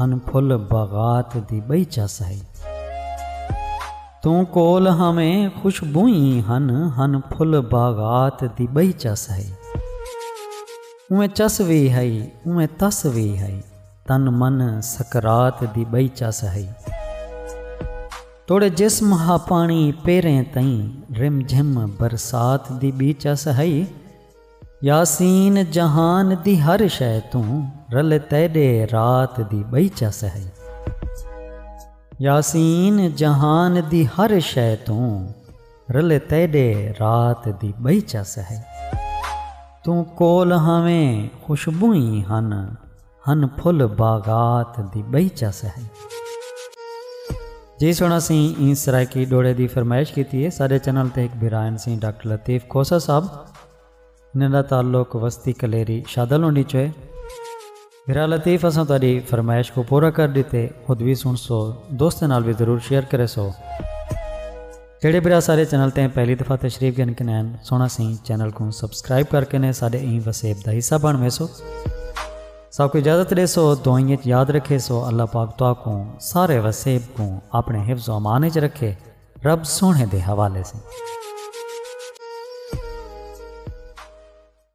ہن پھل باغات دی ٻئی چس ہئی۔ توں کول ہاویں خوشبوئیں ہن ہن پھل باغات دی ٻئی چس ہئی۔ اونویں چس وی ہئی اونویں تس وی ہئی تن من سکرات دی ٻئی چس ہئی۔ توڑے جسم ہا پاݨی پیریں تئیں رم جھم برسات دی ٻی چس ہئی۔ یاسین جہان دی ہر شے توں رل تیݙے رات دی ٻئی چا سہائی۔ یاسین جہان دی ہر شے توں رل تیݙے رات دی ٻئی چا سہائی۔ توں کول ہاویں خوشبوئیں ہن۔ ہن پھل باغات دی ٻئی چس ہے۔ جی سنڑ اسیں ایں سرائیکی ڈوہڑے دی فرمائش کیتی ہے۔ ساڈے چینل تے ہک بھرا ہن سی ڈاکٹر لطیف کھوسہ صاحب انہاں دا تعلق وستی کلیری شادہ لونڈی چوں ہے۔ بھرا لطیف اساں تہاڈی فرمائش کوں پورا کر ڈتے خود وی سنڑسو دوستاں نال وی ضرور شیئر کریسو۔ جیڑھے بھرا سارے چینل تے پہلی دفعہ تشریف گھن کے نین سونا سی چینل کو سبسکرائب کر کے نے سارے این وسیب دا حصہ بن ویسو سب کو اجازت دے سو دعائیں وچ یاد رکھے سو اللہ پاک تو کو سارے وسیب کو اپنے حفظ و امان وچ رکھے رب سونے دے حوالے سے